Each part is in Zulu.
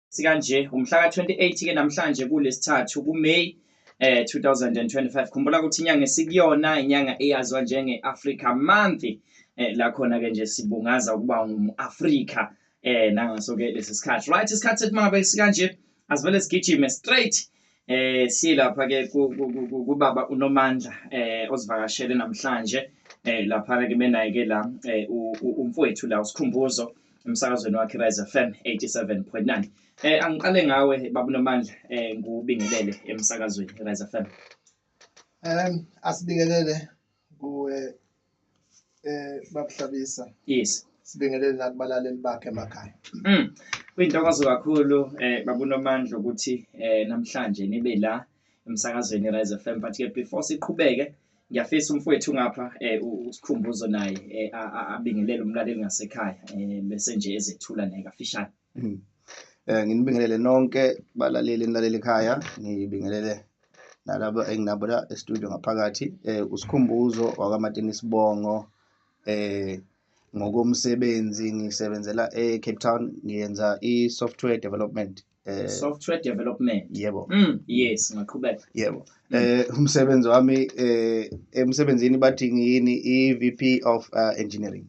sikanje umhlaka 28 ke namhlanje kulesithathu kuMay eh 2025 khumbula ukuthi inyanga esikuyona inyanga eyazwa njenge Africa Month eh la khona ke nje sibungaza ukuba ngumAfrika eh nangaso ke lesisikhathi right isikhathi sethi mangabe sikanje asivele sigijime straight Eh silapha ke kubaba uNomandla eh osivakashele namhlanje eh lapha ke benaye ke la eh, umfowethu la usikhumbuzo emsakazweni wakhe Rise FM 87.9 eh angiqale ngawe baba uNomandla eh ngubingelele emsakazweni Rise FM um asibingelele kuwe eh babuhlabisa yes sibingelele nakubalaleli bakhe emakhaya mm kuyintokozo kakhulu eh babunomandla ukuthi eh namhlanje nibe la emsakazweni Rise FM but ke before siqhubeke ngiyafisa umfowethu ngapha eh usikhumbuzo naye eh, abingelele umlaleli ngasekhaya eh bese nje ezethula naye kafishane Hmm. Eh nginibingelele nonke balaleli enilaleli ekhaya ngibingelele nalabo enginabo la e-studio ngaphakathi eh usikhumbuzo wakamatini sibongo eh ngokomsebenzi ngisebenzela e-Cape Town ngiyenza i-software development eh software development yebo mm, yes ngaqhubeka yebo eh umsebenzi wami eh emsebenzini bathi ngiyini i-VP of uh, engineering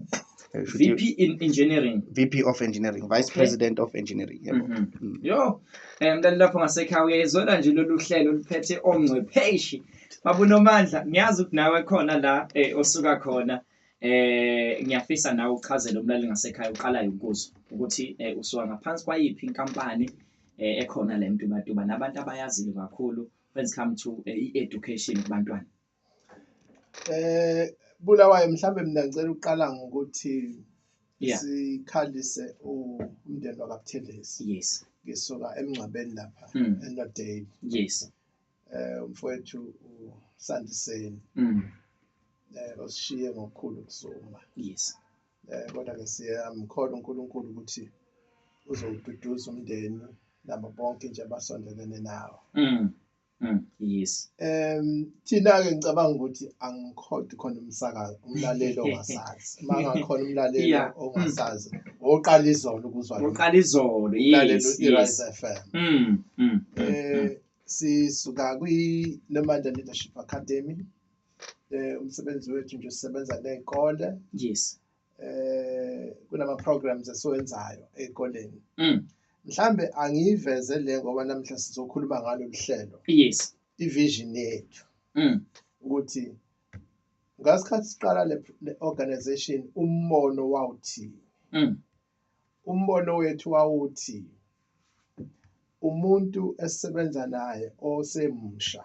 Eh, should you- VP in engineering VP of engineering vice Okay. president of engineering yebo Mhm. Mm. yo um mntana lapho ngasekhaya uyayizwela nje lolu hlelo oluphethe ongcwepheshi babunomandla ngiyazi ukuthi nawe khona la eh, osuka khona eh ngiyafisa nawe uchazele umlaleli ngasekhaya uqalayo ukuzwa ukuthi eh, usuka ngaphansi kwayiphi inkampani eh, ekhona le mtubatuba nabantu abayaziyo kakhulu when it come to eh, i-education kubantwana eh bulawayo mhlambe mina ngicela uqala ngokuthi yeah. sikhalise umndeni wakabuthelezi yes ngisuka emngcwabeni lapha mm. enodale yes eh umfowethu usandiseni mm. eh osishiye ngokukhulu kusuma yes Eh, kodwa-ke siyamkhola uNkulunkulu ukuthi uzowududuza umndeni nabo bonke nje abasondelene nawo mm. mm. yes um thina-ke ngicabanga ukuthi angikhodi khona umsakazi umlaleli ongasazi uma ngakhona umlaleli yeah. Mm. ongasazi oqala izolo ukuzwaoqala izolo yes, yes. f m mm. mm. um sisuka kwi-nomanda leadership academy eh umsebenzi wethu nje sisebenza nezikole yes eh kunama programs esiwenzayo ezikoleni mm. mhlambe angiyiveze le ngoba namhla sizokhuluma ngalo lihlelo yes ivision yethu mm. ukuthi ngasikhathi siqala le, le organization umbono wawuthi mm. umbono wethu wawuthi umuntu esisebenza naye osemusha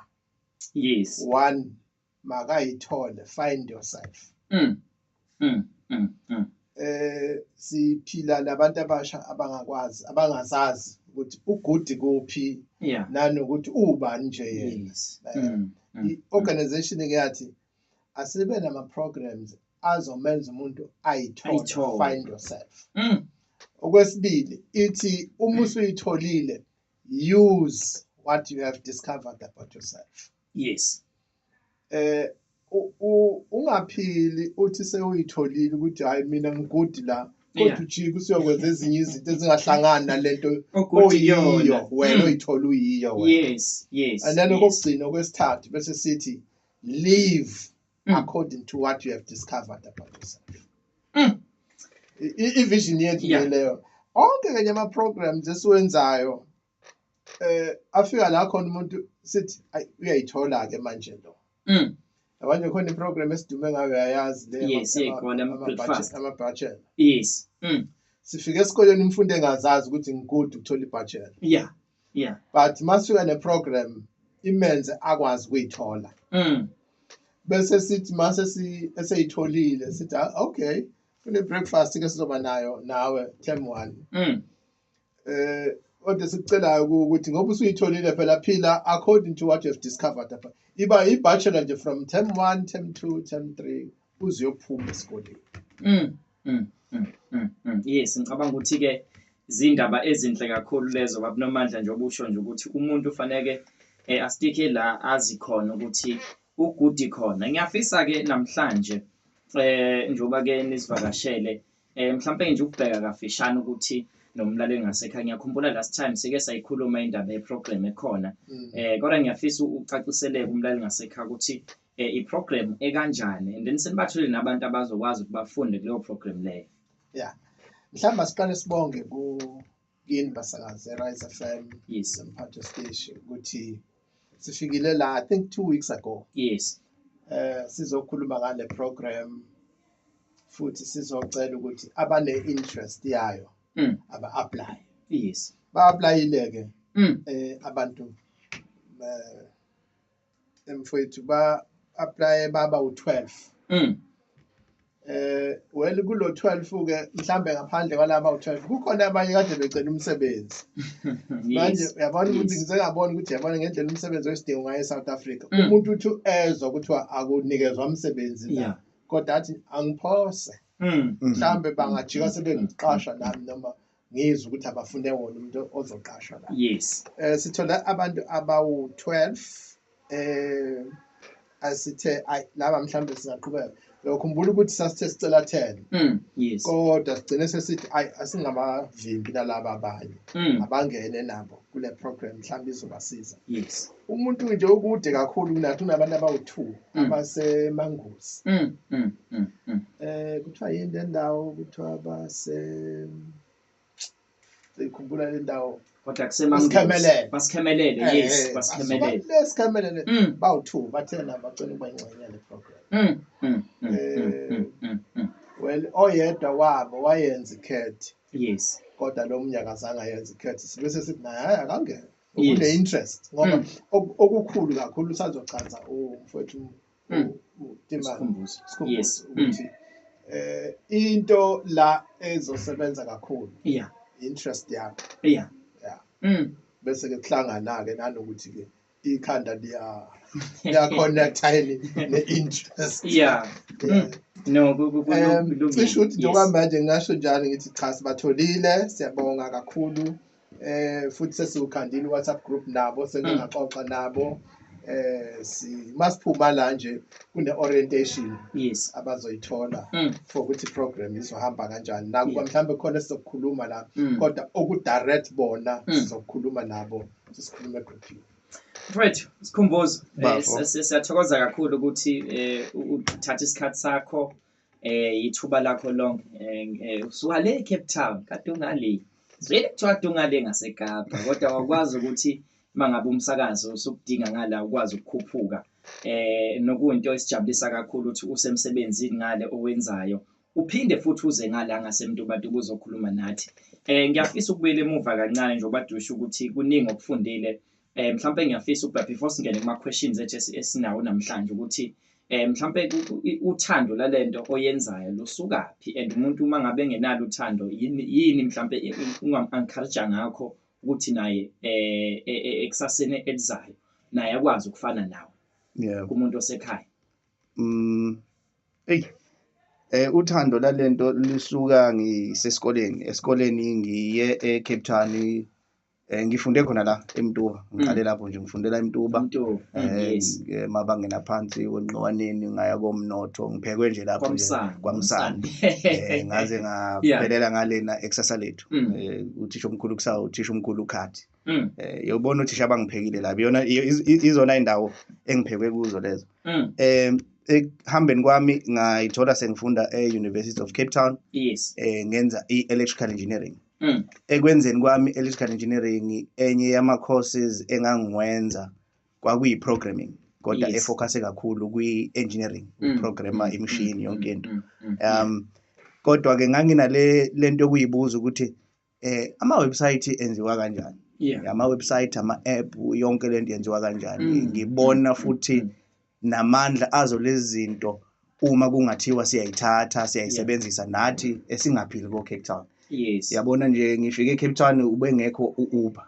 yes one makayithole find yourself mm. Mm. Mm. Mm. eh siphila nabantu abasha abangakwazi abangazazi ukuthi ugudi kuphi yeah nanokuthi ubani nje yena yes Eh, mm. Mm. i-organization ke yathi asibe nama programs azomenza umuntu ayithole Ayithole. find yourself Mm. okwesibili ithi uma usuyitholile use what you have discovered about yourself yes eh ungaphili uthi sewuyitholile ukuthi hayi mina ngigudi la kodwa ujike usiyokwenza ezinye izinto ezingahlangani nalento oyiyo wena hmm. oyithola uyiyo wena yes yes and then okugcina okwesithathu bese sithi leave mm. according to what you have discovered about yourself mm. i-vision yethu yeah. leyo onke kanye ama-programs esiwenzayo eh afika la khona umuntu sithi uyayithola-ke manje lo mm. abanye khona i-program esidume ngayo yayazi leamabhachela yes mm. sifike esikoleni umfundi engazazi ukuthi ngikude ukuthola ibhachela yeah yeah but masuka ne program imenze akwazi kuyithola mm bese sithi mase si eseyitholile sithi ah, okay kune breakfast ke sizoba nayo nawe term 1 mm eh kodwa sikucelayo ukuthi ngoba usuyitholile phela phila according to what you have discovered apha iba i-bachelor nje from term 1 term 2 term 3 uziyophuma esikoleni mm Mm, mm, mm, mm. Yes, ngicabanga ukuthi ke zindaba ezinhle kakhulu lezo babunomandla nje obusho nje ukuthi umuntu ufaneke eh, astike la azi khona ukuthi ugudi khona ngiyafisa ke namhlanje eh njoba ke nisivakashele eh mhlawumbe nje ukubheka kafishane ukuthi nomlaleli ngasekhaya ngiyakhumbula last time sike sayikhuluma indaba yeprogram ekhona mm. eh kodwa ngiyafisa ucaciseleke umlaleli ngasekhaya ukuthi eh, iprogram ekanjani and then senibathole nabantu abazokwazi ukuthi bafunde kuleyo program leyo yeah mhlawumbe asiqale sibonge ku yini basakazi erise fm yes emphathe station ukuthi sifikile la i think two weeks ago yes eh sizokhuluma ngale program futhi sizocela ukuthi abane interest yayo mm. aba apply yes ba applyile ke mm. eh abantu eh, mfowethu ba-aplaye baba u-12 mm. eh well kulo 12 ke mhlambe ngaphandle kwalaba u12 kukhona abanye kade becela umsebenzi manje uyabona ukuthi ngisengabona ukuthi yabona ngendlela umsebenzi wesidingo ngaye eSouth Africa mm. umuntu uthi ezwa kuthiwa akunikezwa umsebenzi la kodwa athi angiphose mm. mhlambe bangajika sebengiqasha nami noma ngizwe ukuthi abafune wona umuntu ozoqashwa la yes eh sithola abantu abawu 12 eh asithe ay laba mhlambe singaqhubeka lokhumbula ukuthi sasithe sicela 10 mm yes kodwa sigcine sesithi ay asingabavimbi nalaba abanye mm. abangene nabo kule program mhlambe izobasiza yes umuntu nje okude kakhulu kunathi unabantu abawu-two mm. abasemangozi um mm, mm, eh, kuthiwa yini le ndawo kuthiwa base ikhumbula le ndawo kodwa kusemangozibasikhemelele eh, yes eh, basikhemelelesikhemelele bawu-two bathena bacela ukuba ingxenye yale program well oyedwa wabo wayenza ikhethi yes kodwa lo mnye akazange ayenza ikhethi sibe sesithi naye hayi akangena une interest ngoba mm. okukhulu kakhulu usazochaza umfowethu mm. Sikhumbuzo yes mm. ukuthi eh into la ezosebenza kakhulu yeah interest yakho yeah yeah mm bese ke kuhlangana ke nanokuthi ke ikhanda liya liya connect yini ne interest yeah mm. no kulungile cisho ukuthi njengoba manje ngasho njalo ngithi cha sibatholile siyabonga kakhulu eh futhi sesiwukhandile WhatsApp group nabo sengingaxoxa mm. nabo eh si masiphuma la nje kune orientation yes abazoyithola mm. for ukuthi program izohamba kanjani nakuba yeah. mhlambe khona sizokukhuluma la mm. kodwa oku direct bona mm. sizokukhuluma nabo sisikhulume group Mfowethu sikhumbuzo eh, siyathokoza kakhulu ukuthi eh, uthatha isikhathi sakho eh yithuba lakho lonke eh, eh, usuka le Cape Town kade ungale zwele kuthiwa kade ungale ngaseKapa kodwa wakwazi ukuthi mangabe umsakazo usukudinga ngala ukwazi ukukhuphuka eh nokuyinto esijabulisa kakhulu ukuthi usemsebenzini ngale owenzayo uphinde futhi uze ngala ngasemntubatu ubuzokhuluma nathi eh ngiyafisa ukubuyela emuva kancane njengoba dusha ukuthi kuningi okufundile eh mhlawumbe ngiyafisa ukuba before singene kuma questions ethu esinawo namhlanje ukuthi eh mhlawumbe uthando lalento oyenzayo lusukaphi and umuntu uma ngabe engenalo uthando yini yini mhlawumbe ungam encourage ngakho ukuthi naye eh, eh, eh ekusasene elizayo naye akwazi ukufana nawe yeah kumuntu osekhaya mm hey eh uthando lalento lisuka ngisesikoleni esikoleni ngiye eCape Town Eh ngifunde khona la eMtuba ngiqale mm. lapho nje ngifundela eMtuba eh, eh mabangena phansi kwenqowaneni ngaya komnotho ngiphekwe nje lapho kwamsana eh, ngaze ngaphelela ngalena exercise lethu mm. eh, uthisha omkhulu kusawu uthisha omkhulu ukhathi mm. eh yobona uthisha abangiphekile la biyona izona indawo engiphekwe kuzo lezo eh ekuhambeni kwami ngayithola sengifunda e-University of Cape Town yes eh ngenza i-electrical engineering Mm. ekwenzeni kwami electrical engineering enye yama courses engangiwenza kwakuyi programming kodwa Yes. efocuse kakhulu kwi engineering Mm. ukuprogramma Mm, imishini mm, yonke mm, into mm, mm, yeah. um kodwa ke nganginale lento yokuyibuza ukuthi eh ama website enziwa kanjani Yeah. ama website ama app yonke lento yenziwa kanjani Mm, ngibona mm, futhi mm, namandla azo lezi zinto uma kungathiwa siyayithatha siyayisebenzisa nathi esingaphili ko-cape town yes yabona nje ngifike ecape town ubengekho u-uber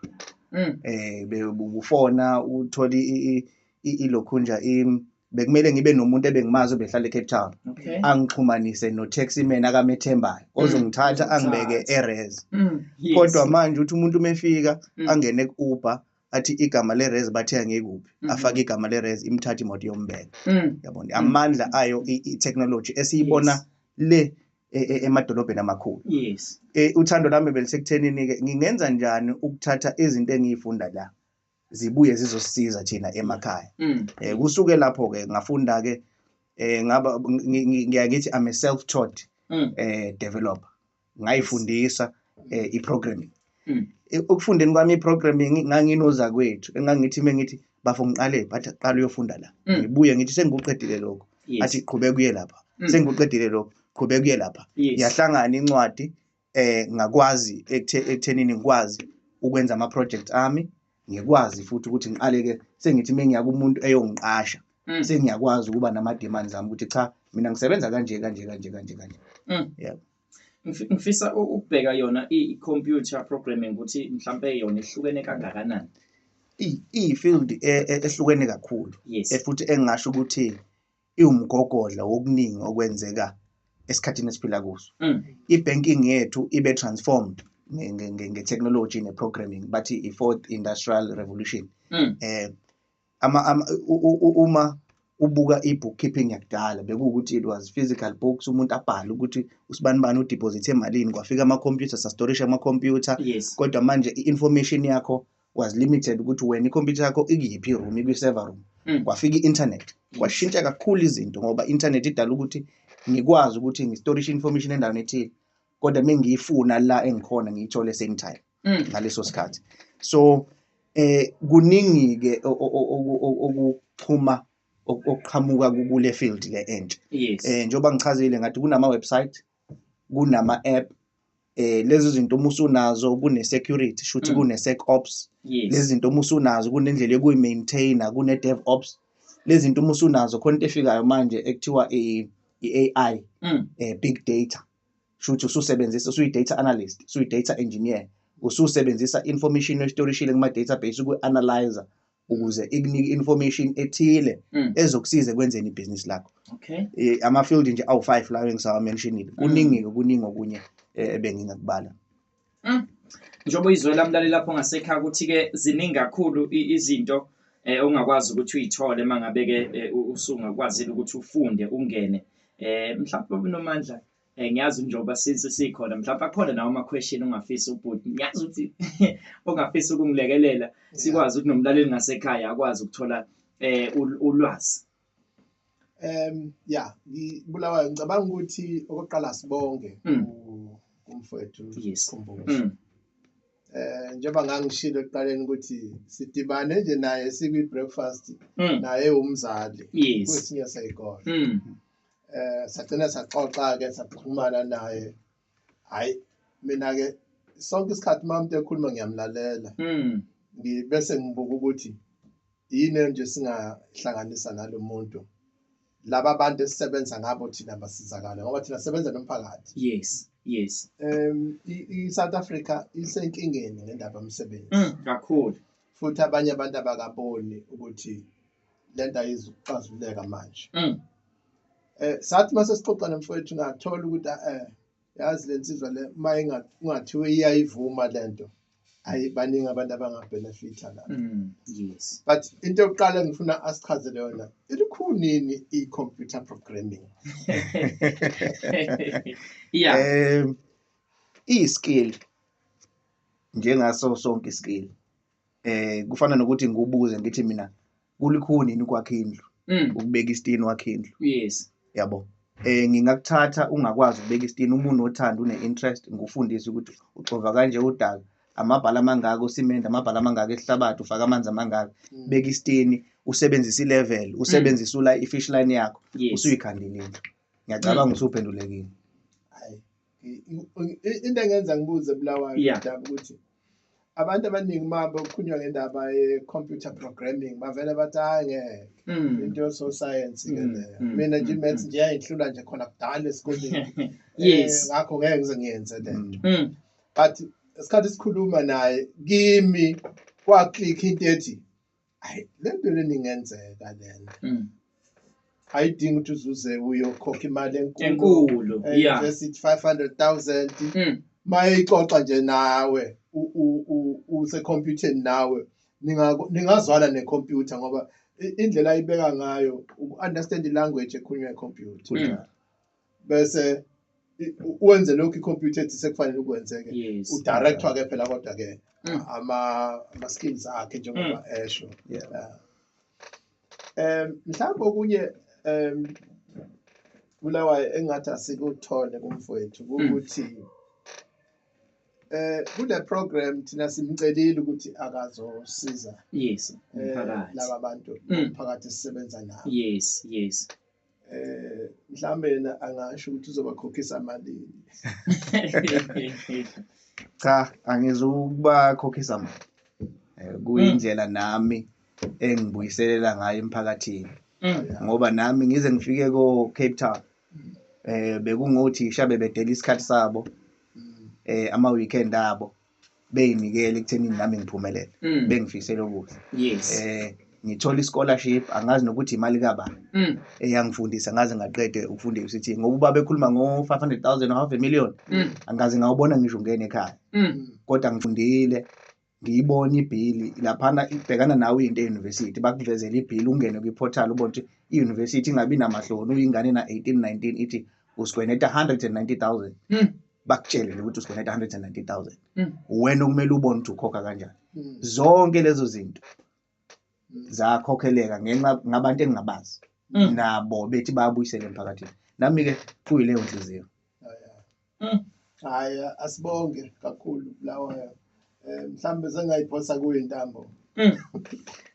mm. eh be- ubufona uthole i- i- i- ilokhunja im bekumele ngibe nomuntu ebengimazi obehlala ecape town okay angixhumanise no-taxi man akamethembayo ozongithatha angibeke ozongithatha. eres Mm. Yes. kodwa manje uthi umuntu uma efika Mm. angene ku-uber athi igama lerez bathe angekuphi mm -hmm. afake igama lerez imthatha imoto yombeka mm. yabona mm. amandla mm. ayo i-technology esiyibona yes. le e, e, emadolobheni amakhulu yes. e, uthando lami belisekuthenini-ke ngingenza njani ukuthatha izinto engiyifunda la zibuye zizosisiza thina emakhaya mm. e, kusuke lapho-ke ngafunda-ke um ngaba ngiyakithi i'm a self taught um mm. developer ngayifundisa eh, i-programming mm. ukufundeni kwami i-programming nganginozakwethu engangithi uma ngithi bafo ngiqale bathi qala uyofunda la mm. ngibuye ngithi sengikuqedile lokho athi qhubeka uye lapha mm. sengikuqedile lokho qhubeka uye lapha yahlangana incwadi eh ngakwazi ekuthenini ngikwazi ukwenza ama-project ami ngikwazi futhi ukuthi ngiqale ke sengithi mengiya kumuntu eyongiqasha mm. sengiyakwazi ukuba nama demands ami ukuthi cha mina ngisebenza kanje kanje kanje kanje kanje mm. yeah ngifisa ukubheka yona i computer programming ukuthi mhlambe yona ihlukene kangakanani i field e, e, ehlukene kakhulu yes. efuthi engasho ukuthi iwumgogodla wokuningi okwenzeka esikhathini esiphila kuso mm. i-banking yethu ibe transformed nge-technology ne-programming bathi i-fourth industrial revolution mm. eh ama uma ubuka i-bookkeeping yakudala bekuwukuthi it was physical books umuntu abhale ukuthi usibani bani udeposit emalini kwafika ama-computer sastorisha ama-computer yes. kodwa manje i-information yakho was limited ukuthi wena ikhompyutha yakho ikuyiphi room ikwi-server room mm. kwafika i-internet kwashintsha kakhulu izinto ngoba i-internet idala ukuthi ngikwazi ukuthi ngistorishe information endaweni ethile kodwa uma ngiyifuna la engikhona ngiyithole same time mm. ngaleso sikhathi so eh kuningi-ke okuxhuma okuqhamuka kule field le entsha um njengoba ngichazile ngathi kunama-website kunama-app eh lezi zinto uma usunazo kune-security shuthi Mm. kune-sec ops lezi yes zinto uma usunazo kunendlela yokuyi-maintaina kune-dev ops lezi zinto uma usunazo khona into efikayo manje ekuthiwa i- i-ai Mm. eh, big data shuthi ususebenzisa usuyi-data analyst usuyi-data engineer ususebenzisa information oyistorishile kuma-database uku-analyzer ukuze ikunike information ethile Mm. ezokusiza ekwenzeni ibhizinisi lakho Okay. Eh, ama-field nje awu-five lawo engisawamentionile kuningi kuningi okunye eh, ebengingakubala Njengoba izwe lamlaleli lapho ngasekhaya ukuthi ke ziningi kakhulu i- izinto eh ongakwazi ukuthi uyithole mangabe ke eh, u- usungakwazile ukuthi ufunde ungene. Eh mhlawumbe unomandla eh ngiyazi njengoba since sikhona mhlawumbe akhona nawo ama question ongafisa ubhuti ngiyazi ukuthi ongafisa ukungilekelela sikwazi ukuthi nomlaleli ngasekhaya akwazi ukuthola eh ulwazi em ya ngibulawa ngicabanga ukuthi okoqala sibonge hmm. kumfowethu sikhumbuzo hmm. eh njengoba ngangishilo ekuqaleni ukuthi sidibane nje naye sikwi breakfast hmm. naye umzali kwesinye sayikona eh sagcina saxoxa ke saxhumana naye hayi mina ke sonke isikhathi mamuntu ekhuluma ngiyamlalela mm ngibese ngibuka ukuthi yini nje singahlanganisa nalo muntu laba bantu esisebenza ngabo thina basizakala ngoba thina sebenza nomphakathi yes yes um i-south africa isenkingeni ngendaba yomsebenzi mm, kakhulu futhi abanye abantu abakaboni ukuthi lento ayizi ukuxazuleka manje mm. eh sathi mase sixoxa nomfowethu ngathola ukuthi eh yazi lensizwa le uma ingathiwe iyayivuma lento ayi baningi abantu abangabenefitha la mm, yes but into yokuqala ngifuna asichazele yona ilikhunini i-computer programming yeah um iyi-skill njengaso sonke i-skill eh kufana nokuthi ngikubuze ngithi mina kulikhuni yini ukwakha indlu Mm. ukubeka isitini wakhe indlu Yes. yabo eh ngingakuthatha ungakwazi ukubeka isitini uma unothando une-interest ngikufundise ukuthi uxova kanje udaka amabhala amangaka usimende amabhala amangaka esihlabathi ufake amanzi amangaka Mm. beka isitini usebenzise ilevel usebenzise ula i-fish line yakho Yes. usuyikhandile indlu ngiyacabanga usuphendulekile into engenza ngibuze bulawayo yeah. daba ukuthi abantu abaningi uma bekhulunywa ngendaba ye-computer programming bavele bathi hayi ngeke mm. into yososayensi ke mm, leyo mm, mina nje imaths nje yayihlula nje khona kudala esikoleni yes eh, ngakho ngeke ngize ngiyenze le nto but isikhathi sikhuluma naye kimi kwaclick into ethi hayi le nto leni ingenzeka le nto Mm. ayidingi ukuthi uzuze uyokhokha imali enkulu enkulu Eh, ya just ithi 500000 Mm. mayixoxa nje nawe u- u- u- usekhompyutheni nawe Ninga- ningazwana nekhompyutha ngoba i- indlela ayibeka ngayo uku-understand i-language ekhulunywa ikhompyutha kunjalo bese i- u- wenze lokhu ikhompyutha ethi sekufanele ukwenzeke Yes. udirector ke phela kodwa ke Mm. ama ama skills akhe njengoba esho Yeah. Yeah. em mhlawumbe okunye em kulawa engathi asikuthole kumfowethu ukuthi eh kule program thina simcelile ukuthi akazosiza Yes. eh, Umphakathi. laba bantu Mm. phakathi sisebenza nabo Yes, yes. eh mhlambe yena angasho ukuthi uzobakhokhisa malini cha angizukubakhokhisa mali eh, kuyindlela mm. nami engibuyiselela ngayo emphakathini mm. ngoba nami ngize ngifike ko Cape Town eh bekungothi shabe bedela isikhathi sabo mm. eh ama weekend abo beyinikela ekuthenini nami ngiphumelele mm. bengifisela okuhle yes. eh ngithola i-scholarship angazi nokuthi imali kabani mm. eyangifundisa ngaze ngaqede ukufunda e-UCT ngokuba bekhuluma ngo-five hundred thousand half a million mm. angaze ngawubona ngisho ungene ekhaya mm. kodwa ngifundile ngiyibona ibhili laphana ibhekana nawe into eyunivesithi bakuvezela ibhili ungene kwi-portal ubona ukuthi iyunivesithi ingabi namahloni uyingane na-eighteen nineteen ithi usigweneta hundred and ninety thousand bakutshele nje ukuthi usikweleta 190000 Mm. wena okumele ubone ukuthi ukhokha kanjani Mm. zonke lezo zinto zakhokheleka ngenxa ngabantu engingabazi Mm. nabo bethi babuyisele emphakathini nami-ke kuyileyo nhliziyo Mm. hayi asibonge kakhulu lawa eh mhlambe sengayiphosa kuyo intambo Mm.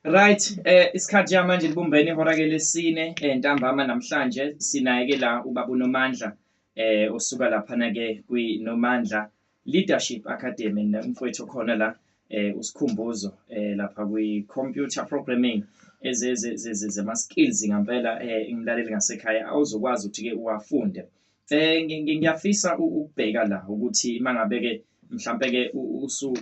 Right, eh isikhathi ja manje libumbene ihora ke lesine eh ntambama namhlanje sinaye ke la ubaba uNomandla eh usuka laphana ke kwi Nomandla Leadership Academy nomfowethu khona la eh usikhumbuzo eh lapha kwi computer programming ezezezezema skills ngampela eh ngilaleli ngasekhaya awuzokwazi ukuthi ke uwafunde eh ngiyafisa ukubheka la ukuthi mangabe ke mhlambe ke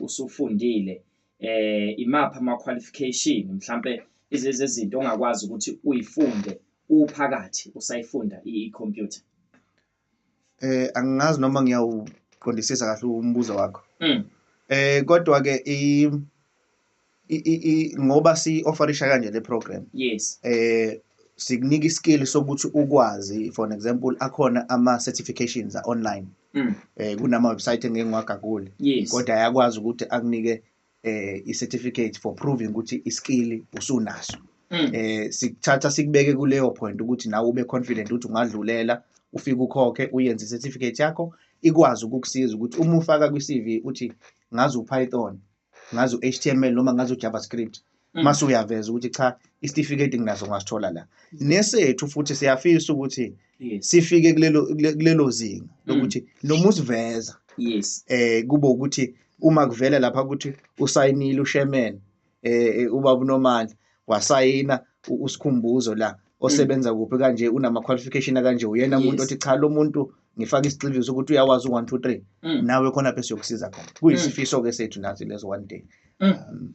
usufundile eh imapha ama qualification mhlambe izezinto ongakwazi ukuthi uyifunde uphakathi usayifunda i-computer eh angazi noma ngiyawuqondisisa kahle umbuzo wakho mm. eh kodwa ke i i ngoba si offerisha kanje le program yes eh sikunika iskill sokuthi ukwazi for an example akhona ama certifications online mm. eh kunama website engeke ngiwagagule kodwa ayakwazi ukuthi akunike eh i certificate for proving ukuthi i skill usunaso hmm. eh sikuthatha sikubeke kuleyo point ukuthi nawe ube confident ukuthi ungadlulela ufike ukhokhe uyenze i certificate yakho ikwazi ukukusiza ukuthi uma ufaka kwi CV uthi ngazi uPython ngazi uHTML noma ngazi uJavaScript mm. mase uyaveza ukuthi cha isitifiketi nginaso ngasithola la nesethu futhi siyafisa ukuthi sifike kulelo kulelo zinga mm. lokuthi noma usiveza yes eh kube ukuthi uma kuvela lapha ukuthi usayinile ushemen eh, eh ubaba unomandla wasayina usikhumbuzo la osebenza mm. kuphi kanje unama qualification kanje uyena umuntu othi cha lo muntu ngifake isigxiviso ukuthi uyawazi u1 2 3 nawe khona phe siyokusiza khona kuyisifiso ke sethu nathi lezo one day um,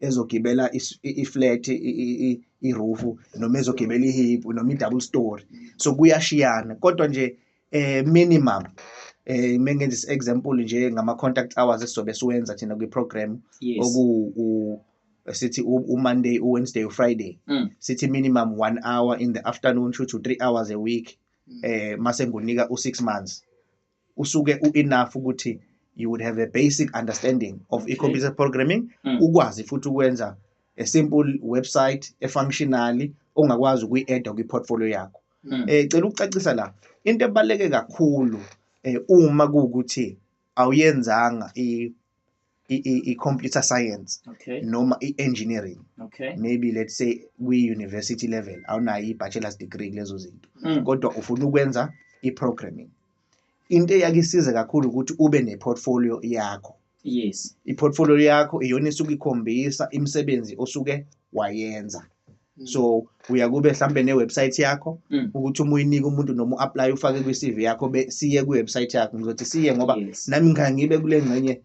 ezogibela i-flat i-roof noma ezogibela i-hip noma i-double story so kuyashiyana kodwa nje eh minimum eh mengenza i-example nje ngama-contact hours esizobe siwenza thina kwi-program oku sithi u-monday u-wednesday u-friday mm. sithi minimum one hour in the afternoon shuthi u-three hours a week mm. eh mase ngikunika u-six months usuke u-enough ukuthi you would have a basic understanding of okay. e-computer programming mm. ukwazi futhi ukwenza a simple website efunctionally ongakwazi ukuyi-edda kwi-portfolio yakho mm. eh cela ukucacisa la into ebaleke kakhulu eh uma kuukuthi awuyenzanga i i-computer science okay. noma i-engineering okay. maybe let's say kwi-university level awunayo i-bachelor's degree kulezo zinto mm. kodwa ufuna ukwenza i-programming into eyakisiza kakhulu ukuthi ube ne-portfolio yakho yes i-portfolio yakho iyona esuke ikhombisa imisebenzi osuke wayenza Mm. so uya kube mhlambe ne-website yakho Mm. ukuthi uma uyinike umuntu noma u-apply ufake kwi-cv yakho be- siye kwi-website yakho ngizothi siye ngoba Yes. nami ngangibe kule ngxenye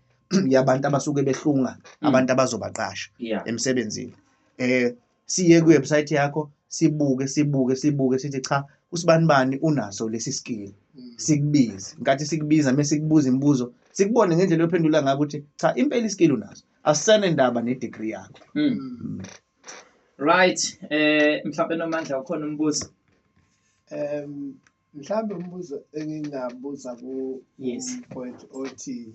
yabantu abasuke behlunga Mm. abantu abazobaqasha Yeah. emsebenzini eh siye kwi-website yakho sibuke sibuke sibuke sithi cha usibani bani unaso lesi skill Mm. sikubize nkathi sikubiza mase sikubuza imibuzo sikubone ngendlela ophendula ngayo ukuthi cha impela iskill unaso asisane ndaba ne-degree yakho Mm. Mm. Right, eh mhlawumbe nomandla ukhona umbuzo. Um mhlawumbe umbuzo engingabuza ku yes point othi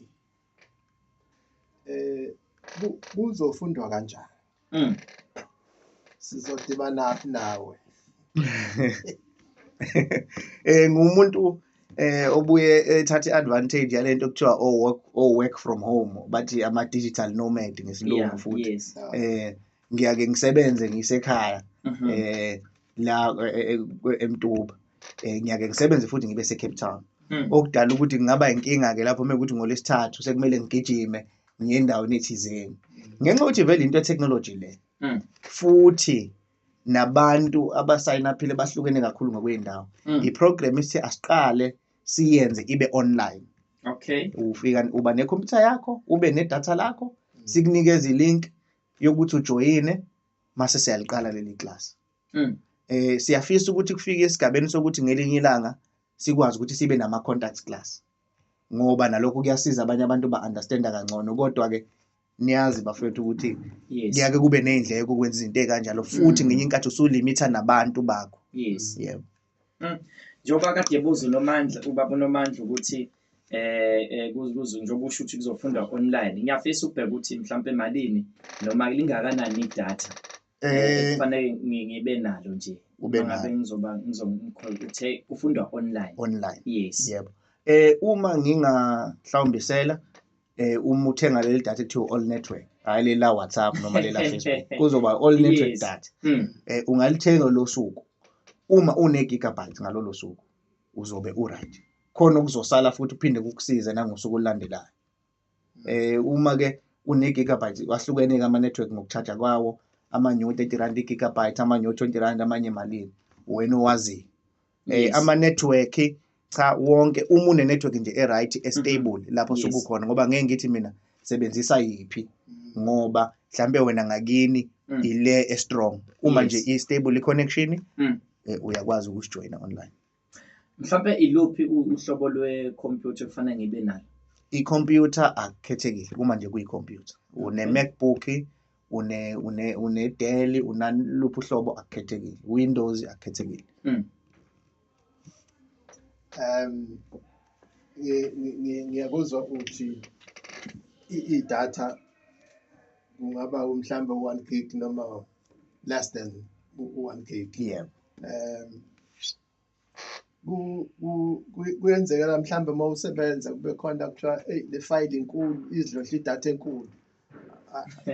eh kuzofundwa kanjani? Mm. Sizodibana nawe. Eh ngumuntu eh obuye ethatha iadvantage yalento kuthiwa o work o work from home bathi ama digital nomad ngesilungu Yeah, futhi yes. eh ngiyake ngisebenze ngisekhaya Mhm. eh la eh, eh, kwe- eMtuba eh ngiyake ngisebenze futhi ngibe seCape Town Mm. okudala ukuthi kungaba inkinga ke lapho mekuthi ngolesithathu sekumele ngigijime ngiye endaweni ethizeni ngenxa yokuthi vele into technology le Mm. futhi nabantu abasayinaphile bahlukene kakhulu ngokwey'ndawo Mm. i-program esithi asiqale siyenze ibe online okay ufika uba nekhompyutha yakho ube nedatha lakho sikunikeze ilink yokuthi ujoyine mase siyaliqala leli class Mm. eh siyafisa ukuthi kufike esigabeni sokuthi ngelinye ilanga sikwazi ukuthi sibe nama contact class ngoba nalokho kuyasiza abanye abantu ba understand kangcono kodwa ke niyazi bafethu ukuthi yes kuyake kube nezindleko ukwenza izinto ezikanjalo futhi ngenye inkathi usulimitha nabantu bakho yes yebo njengoba kade ebuza unomandla ubaba unomandla ukuthi eh, eh kuzuzu njengoba usho ukuthi kuzofundwa online ngiyafisa ukubheka ukuthi mhlawumbe malini noma lingakanani idatha eh, eh kufanele ngibe nalo nje ube ngabe ngizoba ngizomkhuluma uthe kufundwa online online yes yebo eh uma nginga mhlawumbe sela eh uma uthenga leli data ekuthiwa all network hayi leli la WhatsApp noma leli la Facebook kuzoba all network Yes. data Mm. eh ungalithenga lo suku uma une gigabyte ngalolo suku uzobe u right khona okuzosala futhi uphinde kukusize nangosuku olulandelayo eh uma ke une gigabyte wahlukene ke ama network ngokucharge kwawo ama new 30 rand gigabyte ama new 20 rand amanye malini wena owaziyo eh, yes. ama network cha wonke uma une network nje e right e mm-hmm. stable lapho yes. sukukhona ngoba ngeke ngithi mina sebenzisa yiphi mm. ngoba mhlambe wena ngakini mm. ile e strong uma yes. nje i stable connection mm. eh, uyakwazi ukusijoyina online mhlawumbe iluphi uhlobo lwe computer kufanele ngibe nalo i-computer akukhethekile uma nje kuyi-computer une-macbook une une une Dell unaluphi uhlobo akukhethekile Windows akukhethekile mm. um ngiyakuzwa uthi i-data kungaba mhlawumbe u-one gig noma less than u-one gig yebo um kuyenzekela mhlawumbe uma usebenza kube khona kuthiwa eyi le fayili inkulu izidlodla idatha enkulu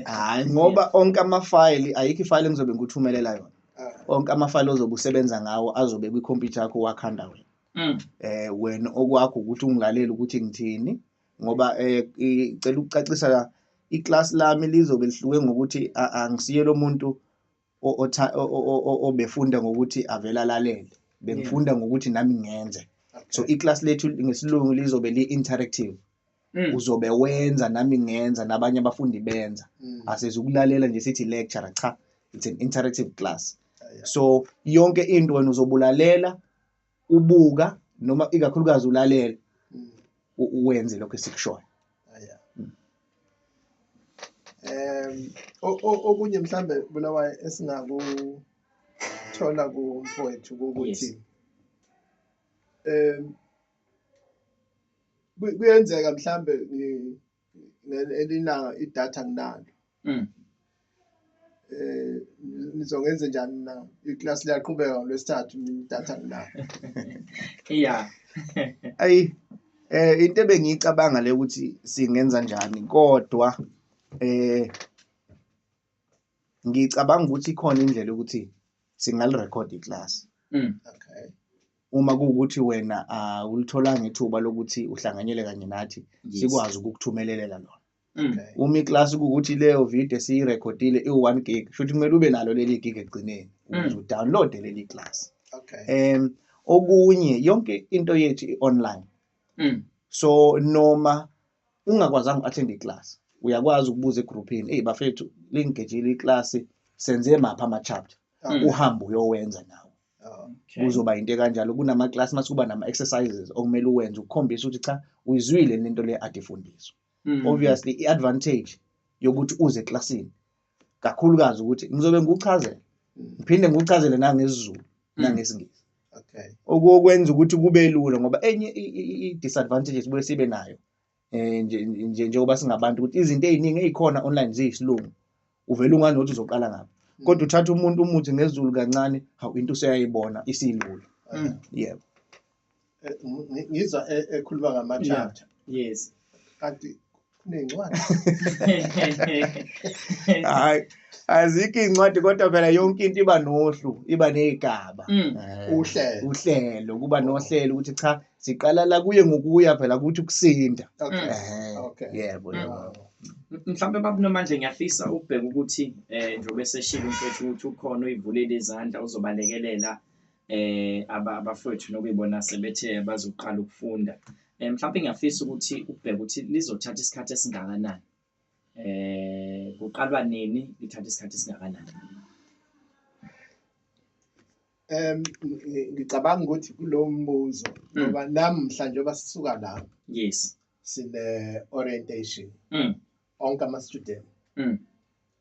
hayi ngoba onke amafayili ayikho ifayili engizobe ngikuthumelela yona ah. onke amafayili ozobe usebenza ngawo azobe kwikhompyutha yakho wakhanda wena um wena okwakho ukuthi ungilalele ukuthi ngithini ngoba um eh, icela ukucacisa iklasi lami lizobe lihluke ngokuthi angisiye lo muntu o- otha- o- o- o- o- obefunda ngokuthi avele alalele bengifunda ngokuthi nami ngenze so iclass lethu ngesilungu lizobe li-interactive Mm. uzobe wenza nami ngenza nabanye abafundi benza Mm. asezukulalela nje sithi lecture cha it's an interactive class so yonke into wena uzobulalela ubuka noma ikakhulukazi ulalela mm. uwenze lokho esikushoyo um okunye mhlambe bulawayo esingakuthola kumfowethu kokuthi um kuyenzeka mhlambe elinayo idatha nginalo mm. eh nizongenze njani na iclass liyaqhubeka ngolwesithathu idatha nginalo iya ayi eh into ebengiyicabanga le ukuthi singenza njani kodwa eh ngicabanga ukuthi ikhona indlela ukuthi singalirekhodi iclass mm. okay uma kuwukuthi wena awulitholanga ithuba lokuthi uhlanganyele kanye nathi Yes. sikwazi ukukuthumelelela lona Mm. Okay. uma iklasi kuwukuthi leyo video esiyirekhodile iwu-one gig shuthi kumele ube nalo leli gig ekugcineni ukuze udownloade leli klasi Okay. um okunye yonke into yethu i-online Mm. so noma ungakwazanga uku-athenda iklasi uyakwazi ukubuza egruphini eyi bafethu lingigejile iklasi senze maphi ama-chapter Mm. uhambe uyowenza nawo Okay. Kuzoba into kanjalo kunama class mase kuba nama exercises okumele uwenze ukukhombisa ukuthi cha uyizwile lento le ade fundiswa. Mm. Obviously i advantage yokuthi uze eclassini kakhulukazi ukuthi ngizobe ngikuchazela mm. ngiphinde ngikuchazele nangesiZulu mm. nangesingisi. Okay. Okwenza ukuthi kube lula ngoba enye i disadvantages bese sibe nayo eh nje nje njengoba singabantu ukuthi izinto eziningi ezikhona online ziyisilungu uvela unganothi uzoqala ngapha mm. kodwa uthatha umuntu umuthi ngezulu kancane hawu into useyayibona isilula mm. yebo eh, ngizwa e-, ekhuluma ngama chapter yes kanti kunencwadi hayi azikho incwadi kodwa phela yonke into iba nohlu iba nezigaba mm. eh, uhlelo uhlelo kuba nohlelo ukuthi cha siqala la kuye ngokuya phela ukuthi ukusinda okay eh, okay yebo mm. yebo mhlawumbe babunomandla ngiyafisa ukubheka ukuthi eh njengoba eseshilo mfethu ukuthi ukhona uyivulele izandla uzobalekelela eh abafowethu nokuyibona sebethe bazoqala ukufunda eh mhlawumbe ngiyafisa ukuthi ubheke ukuthi lizothatha isikhathi esingakanani eh kuqalwa nini lithatha isikhathi esingakanani Um ngicabanga ukuthi kulo mbuzo mm. ngoba namhla njengoba sisuka la yes sine-orientation mm. onke ama-student mm.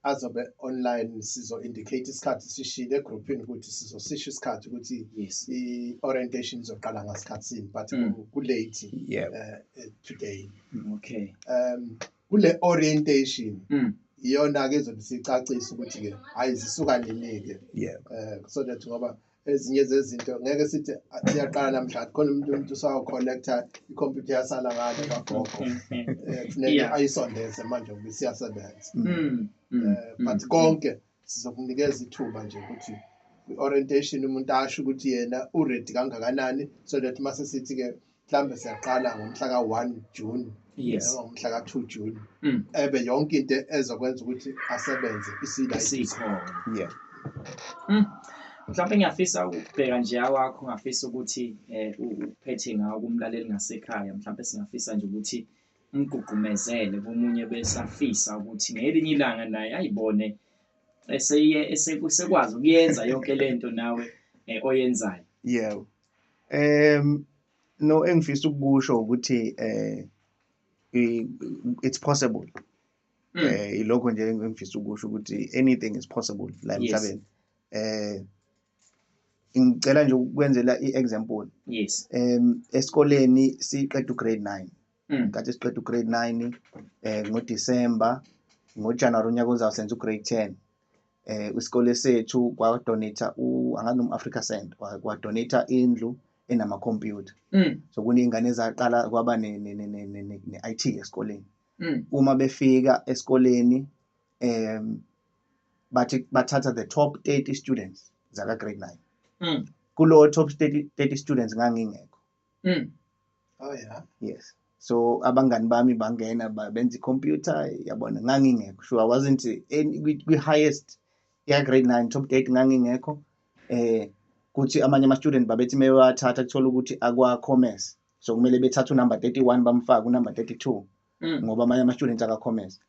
azobe online sizo-indicate isikhathi sishile egruphini ukuthi sizosisho isikhathi ukuthi i-orientation izoqala ngasikhathi sini but kulate eh, eh, today okay um kule orientation mm. iyona ke izobe sicacisa ukuthi ke hayi zisuka nini ke yeah eh so that ngoba ezinye zezinto ngeke sithi siyaqala namhlanje khona umuntu umuntu usawu connecta ikhompyutha yasala ngale kagogo mm, mm, eh kufuneka ayisondeze manje ngoba isiyasebenza mm, eh but konke sizokunikeza ithuba nje ukuthi kwi-orientation umuntu asho ukuthi yena uready kangakanani so that uma sesithi-ke mhlawumbe siyaqala ngomhla ka-one june yes. ngomhla ka-two june mm. ebe yonke into ezokwenza ukuthi asebenze isikhona yeah. mm. mhlawumbe ngiyafisa ukubheka nje awakho ngafisa ukuthi um uphethe ngawo kumlaleli ngasekhaya mhlawumbe singafisa nje ukuthi umgqugqumezele komunye besafisa ukuthi ngelinye ilanga naye ayibone esekwazi ukuyenza yonke le nto nawe eh, oyenzayo yebo um no engifisa ukukusho ukuthi um it's possible um ilokho nje engifisa ukusho ukuthi anything is possible la emhlabeni eh ngicela nje ukwenzela i-example yes um esikoleni siqeda ugrade 9 mm. kathi siqeda ugrade 9 um eh, ngodisemba ngojanuwari unyaka ozayo senza ugrade 10 eh isikole sethu kwadonate angazi noma Africa Send kwadonate indlu enama computer mm. so kunezingane ezaqala kwaba ne ne ne ne IT esikoleni mm. uma befika esikoleni um bathi bathatha the top 30 students zaka grade 9 mm. kulo top 30, 30 students ngangingekho mm. oh yeah yes so abangani bami bangena benza i-computer yabona ngangingekho sure i wasn't kwi-highest ya-grade nine top eight ngangingekho eh kuthi amanye ama-student babethi uma bewathatha kuthola ukuthi akwa-commerce so kumele bethathe unumber 31 bamfake unumber 32 mm. ngoba amanye ama-students aka-commerce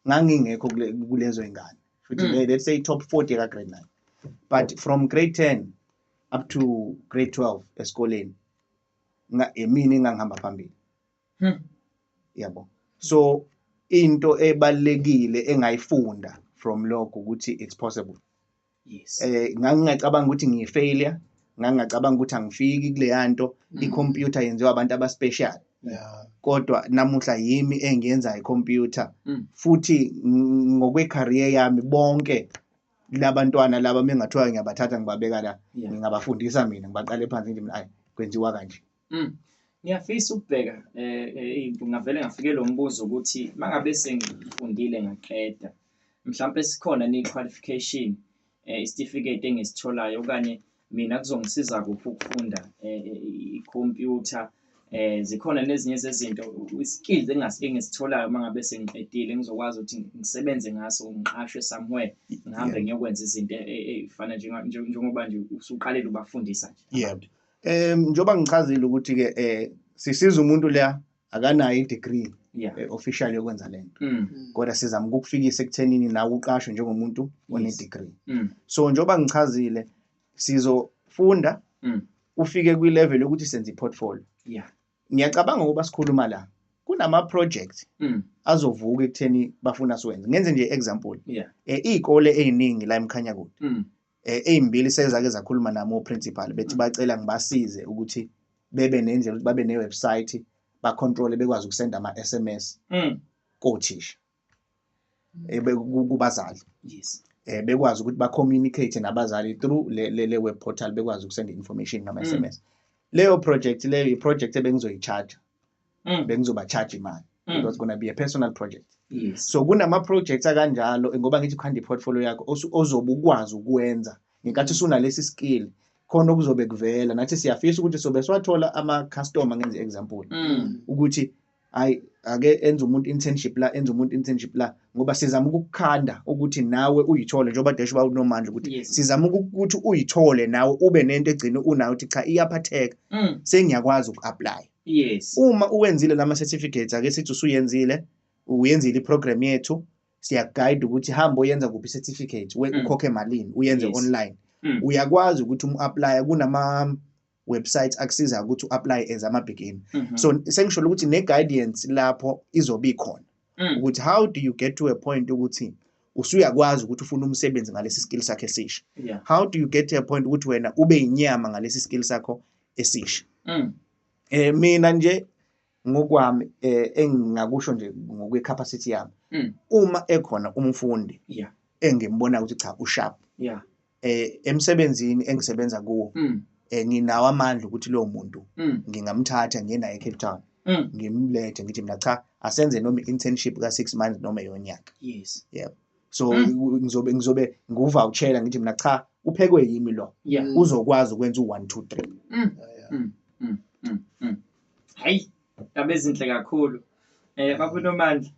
ngangingekho kulezo ingane futhi mm. let's say top 40 ka grade 9 but from grade 10 up to grade 12 esikoleni nga emini ngangihamba phambili hmm. yabo so into ebalekile engayifunda from lokho ukuthi it's possible yes eh ngangingacabanga ukuthi ngiyi failure ngangingacabanga ukuthi angifiki kuleya nto mm. i-computer yenziwa abantu abaspecial yeah. kodwa namuhla yimi engiyenza i-computer mm. futhi ngokwe-career yami bonke labantwana laba mengathiwa ngiyabathatha ngibabeka la yeah. ngingabafundisa mina ngibaqale phansi nje mina ayi kwenziwa kanje Mm. Ngiyafisa ukubheka eh, eh ngingavele ngafike lo mbuzo ukuthi mangabe sengifundile ngaqeda mhlawumbe sikhona ni qualification eh, isitifiketi engisitholayo okanye mina kuzongisiza kuphi ukufunda eh, eh, ikhompyutha eh zikhona nezinye zezinto iskills engisitholayo mangabe sengiqedile ngizokwazi ukuthi ngisebenze ngaso ngiqashwe somewhere ngihambe ngiyokwenza izinto ezifanele njengoba nje usuqalile ubafundisa nje yebo Um njengoba ngichazile ukuthi-ke um sisiza umuntu leya akanayo i-degree yeah. Eh, official yokwenza le nto mm. kodwa sizama ukukufikisa ekuthenini nawe uqashwe njengomuntu one-degree mm. so njengoba ngichazile sizofunda mm. ufike kwi-level yokuthi senze i-portfolio yeah. ngiyacabanga ukuba sikhuluma la kunama-project mm. azovuka ekutheni bafuna siwenze ngenze nje i-example yeah. e, iy'kole ey'ningi la emkhanya kude mm. eh, ezimbili sezake zakhuluma nami oprincipal bethi bacela ngibasize ukuthi bebe nendlela ukuthi babe newebsite bacontrole bekwazi ukusenda ama-sms mm. kothisha eh, kubazali yes eh bekwazi ukuthi ba communicate nabazali through le le, le web portal bekwazi ukusenda information ngama SMS mm. leyo project leyo i project ebengizoyicharge mm. bengizoba charge imali mm. it was gonna be a personal project yes. so kunama-projects akanjalo ngoba ngithi ukhanda i-portfolio yakho ozobe ukwazi ukwenza ngenkathi usunalesi skill khona okuzobe kuvela nathi siyafisa ukuthi sobe siwathola ama-customer ngenze example mm. ukuthi hayi ake enze umuntu internship la enze umuntu internship la ngoba sizama ukukukhanda ukuthi nawe uyithole njengoba desho ba unomandla ukuthi yes. sizama ukuthi uyithole nawe ube nento egcine unayo ukuthi cha iyaphatheka mm. sengiyakwazi uku-aplya yes uma uwenzile lama certificates ake sithi usuyenzile uyenzile iprogram yethu siyaguide ukuthi hamba oyenza kuphi certificate we mm. ukhokhe malini uyenze yes. online mm. uyakwazi ukuthi umu-aplye kunama website akusiza ukuthi u-apply as ama-begin mm -hmm. so sengisho ukuthi ne-guidance lapho izobe ikhona mm. ukuthi how do you get to a point ukuthi usuyakwazi ukuthi ufune umsebenzi ngalesi skill sakhe esisha yeah. how do you get to a point ukuthi wena ube inyama ngalesi skill sakho esisha mm. eh mina nje ngokwami eh engingakusho nje ngokwe capacity yami mm. uma ekhona umfundi yeah engimbona ukuthi cha usharp yeah eh emsebenzini engisebenza kuwo mm. eh nginawo amandla ukuthi lo muntu mm. ngingamthatha ngiye naye eCape Town mm. ngimlethe ngithi mina cha asenze noma internship ka 6 months noma yonyaka yes yebo so mm. ngizobe ngizobe nguvouchela ngithi mina cha uphekwe yimi lo yeah. Mm. uzokwazi ukwenza u1 2 3 mm. mm. mm. mm. mm. hayi yabezinhle kakhulu eh babu nomandla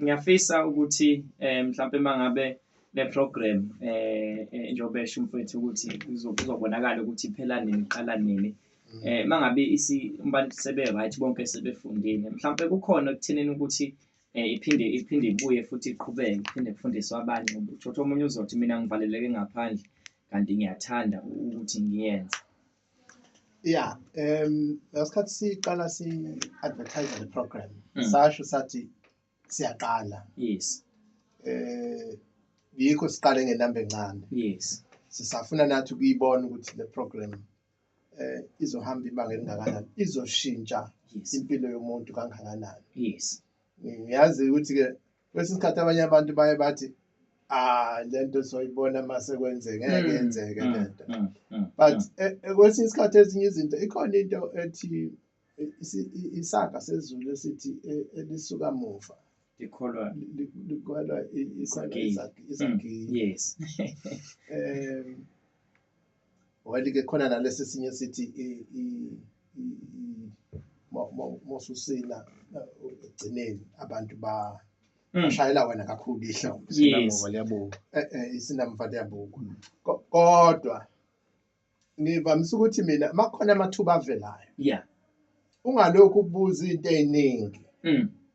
ngiyafisa ukuthi eh mhlawumbe mangabe le program eh, eh njengoba esho mfethu ukuthi kuzobonakala ukuthi iphela nini iqala nini mm. eh mangabe isi umbantu sebe right bonke sebefundile mhlawumbe kukhona okuthenini ukuthi eh, iphinde iphinde ibuye futhi iqhubeke iphinde kufundiswe abanye uthotha omunye uzothi mina ngivaleleke ngaphandle kanti ngiyathanda ukuthi ngiyenze ya um ngasikhathi siqala si-advertise le program mm. sasho sathi siyaqala yes eh yikho siqale ngenamba encane yes sisafuna nathi ukuyibona ukuthi le program eh izohamba ibanga elingakanani izoshintsha yes impilo yomuntu kangakanani yes ngiyazi ukuthi ke kwesinye isikhathi abanye abantu baye bathi ah lento soyibona mase kwenzeke ngeke Mm, yenzeke mm, lento mm, mm, but mm. eh, eh, kwesinye isikhathi ezinye izinto ikhona into ethi eh, isi- i- isaga sezulu esithi eh, elisuka muva likholwa li- li- likwelwa i- ikhona Izagila. izagi- Mm, izagila yes um Well ke khona nalesi sinye sithi mosusina egcineni abantu ba hmm. bashayela wena kakhulu ihla isinamva liyabuka eh, eh, isinamva liyabuka hmm. kodwa ngivamisa ukuthi mina makhona amathuba avelayo yeah ungalokhu ubuza into eziningi hmm.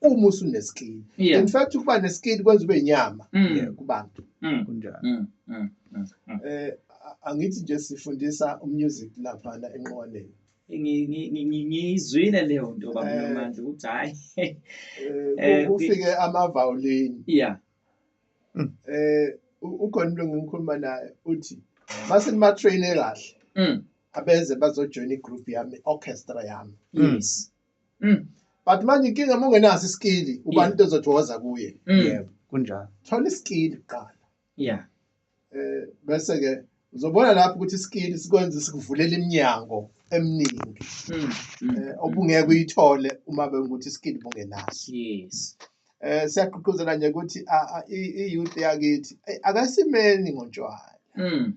uma usunesikini Yeah. in fact ukuba nesikini kwenza ube nyama Mm. eh, kubantu Mm. kunjalo Mm. Mm. Mm. Mm. eh a- angithi nje sifundisa umusic laphana enqwaneni Ngi- ngi- ngi- ngi- ngiyizwile leyo nto baba Eh. Nomandla ukuthi hayi Eh, Eh, ku- kufike amavawulini yeah eh u- ukhona umuntu engikhuluma naye uthi mase nima train kahle mm. abeze bazojoin igroup yami orchestra yami yes Mm. but manje inkinga uma ungenaso isikili ubani into ezothi woza kuye Mm. yebo kunjalo thola isikili kuqala Yeah. eh bese ke uzobona lapho ukuthi isikili sikwenza sikuvulela iminyango eminingi Mm. Mm. eh, obungeke uyithole uma bengukuthi isikili bungenaso Yes. eh siyaqhuquzela nje ukuthi a- a- i- i-youth yakithi eh, akasimeni ngontshwala Mm.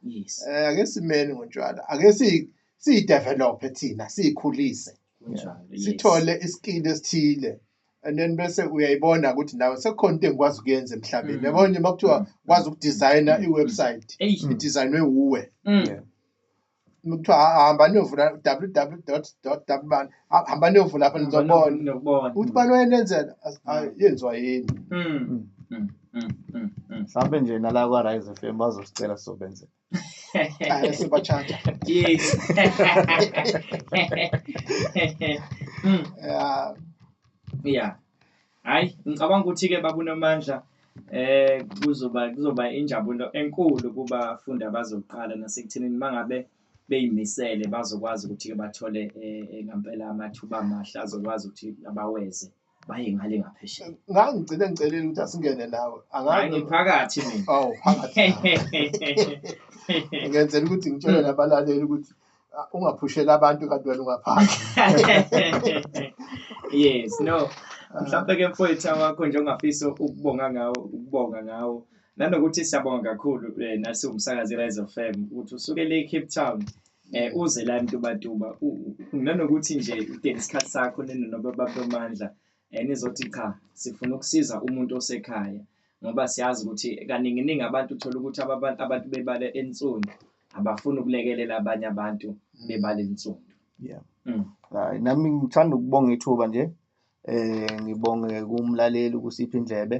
yes eh ake simeni ngotshwala ake si si develop thina sikhulise sithole iskill esithile and then bese uyayibona ukuthi nawe sekukhona into engikwazi ukuyenza emhlabeni mm. yabona uma kuthiwa mm. kwazi ukudesigna mm. i-website idesignwe wuwe kuthiwa hamba niyovula www dot dot dabani Ha- hamba niyovula apha nizobona Nokubona. ukuthi bani wayenenzela As- ah, yenziwa yini Mm. Mm, mm, mm, mm. mhlawumbe nje nala kwa-rise f m bazosicela sizobenze Ah, sibatshaja Yes. Mm. Yeah. Yeah. Hayi, ngicabanga ukuthi ke babunomandla eh kuzoba kuzoba injabulo enkulu kubafundi abazoqala nasekuthenini mangabe beyimisele bazokwazi ukuthi ke bathole eh, eh, ngampela amathuba amahle azokwazi ukuthi abaweze baye ngale ngaphesheya ngangigcine ngicelile ukuthi asingene nawe hayi ngiphakathi mina awu phakathi ngenzela ukuthi ngitshele nabalaleli ukuthi ah, ungaphushela abantu kanti wena ungaphandle yes no mhlawumbe ke mfowethu awakho nje ongafisa ukubonga ngawo ukubonga ngawo nanokuthi siyabonga kakhulu eh, nasiwumsakazi i-rise of fam ukuthi usuke le cape town eh uze la mtubatuba nanokuthi nje udinga isikhathi sakho ninonobababamandla eh, nizothi cha sifuna ukusiza umuntu osekhaya ngoba siyazi ukuthi kaninginingi abantu uthola ukuthi abantu bebale ensundu abafuni ukulekelela abanye abantu bebale ensundu yeah mm. hayi nami ngithanda ukubonga ithuba nje Eh ngibonge kumlaleli ukusipha indlebe.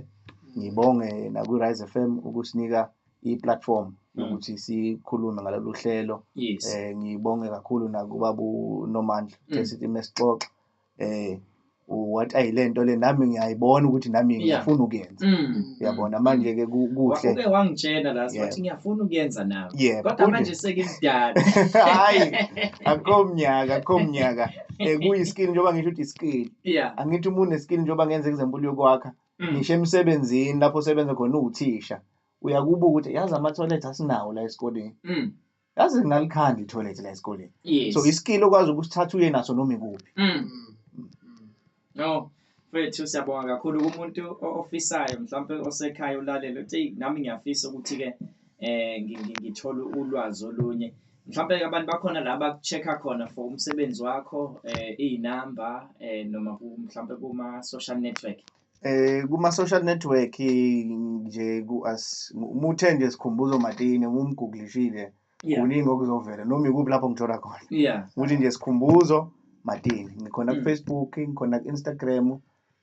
Ngibonge nakwi-Rise FM ukusinika i-platform mm. yokuthi sikhulume ngalolu hlelo. Yes. Eh ngibonge kakhulu nakubabu Nomandla mm. esithi mesixoxa. Eh what ayilento le nami ngiyayibona ukuthi nami ngiyafuna ukuyenza mm. uyabona manje ke kuhle ube wangitshela la sithi ngiyafuna ukuyenza nami kodwa manje sekimdala hayi akho mnyaka akho mnyaka eh, kuyi-skill njengoba ngisho ukuthi i-skill yeah angithi uma une-skill njengoba ngenza example yokwakha Mm. ngisho emsebenzini lapho osebenza khona uwuthisha uyakubuka ukuthi yazi ama-toilet asinawo la esikoleni Mm. yazi ngalikhanda i-toilet la esikoleni yes so i-skill okwazi ukusithatha uye naso noma ikuphi Mm. No, mfethu siyabonga kakhulu kumuntu ofisayo mhlawumpe osekhaya ulalele uthi nami ngiyafisa ukuthi-ke eh ngithole ulwazi olunye mhlawumpe abantu bakhona la baku-check-a khona for umsebenzi wakho eh iy'namba eh noma mhlawumpe kuma-social network eh kuma-social network nje ku-as umuthe nje sikhumbuzo matini umumgooglishile um kuningi okuzovela noma ikuphi lapho ngithola khona ukuthi nje sikhumbuzo matini ngikhona mm. kufacebook ngikhona ku-instagram um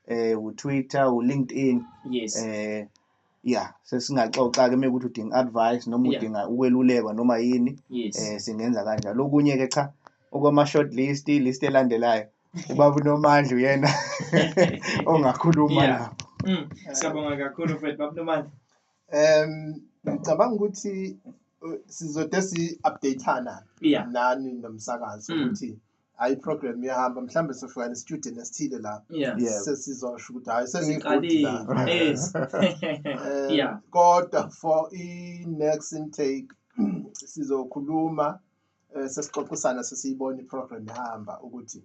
eh, utwitter ulinkedin um eh, ya sesingaxoxa-ke uma ukuthi udinga advice noma udinga ukwelulekwa noma yini um singenza kanjalo okunye-ke cha okwama-short list list elandelayo ubaba unomandla uyena ongakhuluma lapho mm. siyabonga kakhulu fred baba unomandla Um ngicabanga ukuthi uh, sizode si-updatana yeah. nani nomsakazo mm. ukuthi mm. hayi iprogram iyahamba mhlawumbe sofika nestudio nesithile la sesizosho ukuthi hayi sengiqalile kodwa for i-next intake sizokhuluma eh, sesixoxisana sesiyibona iprogram ihamba ukuthi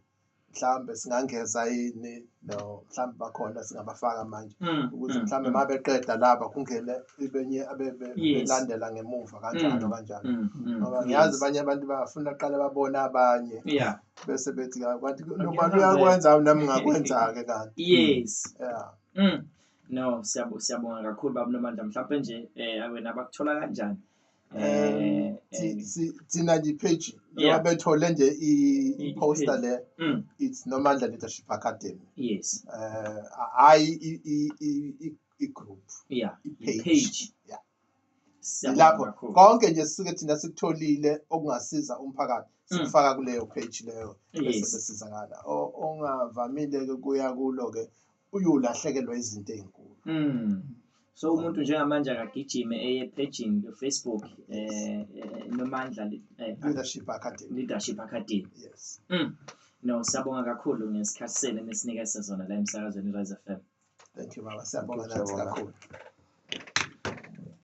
mhlambe singangeza yini no mhlambe bakhona singabafaka manje mm, ukuthi mm, mhlambe mm. uma beqeda laba kungene ibenye abelandela ngemuva kanjalo kanjalo ngoba ngiyazi abanye abantu bafuna kuqala babone abanye bese bethi kanti noma uyakwenza nami ngakwenza-ke kanti yes yeah no siyabonga kakhulu baba nomandla mhlawumpe nje um wena bakuthola kanjani Eh, thi- si- thina nje ipage Yeah. noma bethole nje i- I- i-poster i-page. le Mm, it's nomandla leadership academy yes um hhayi i- i- i- i- i-group yeah Ipage. ipage Yeah. Siyabonga lapho kakhulu. konke nje sisuke thina sikutholile okungasiza umphakathi Mm. sikufaka kuleyo page leyo bese yes besizakala O- ongavamile-ke kuya kulo-ke uyolahlekelwa izinto ezinkulu mm. so umuntu njengamanje akagijime eye paging Facebook eh, eh nomandla eh, leadership academy leadership academy yes mm. no sabonga kakhulu ngesikhathi senu nesinika sezona la emsakazweni Rise FM thank you baba siyabonga nathi kakhulu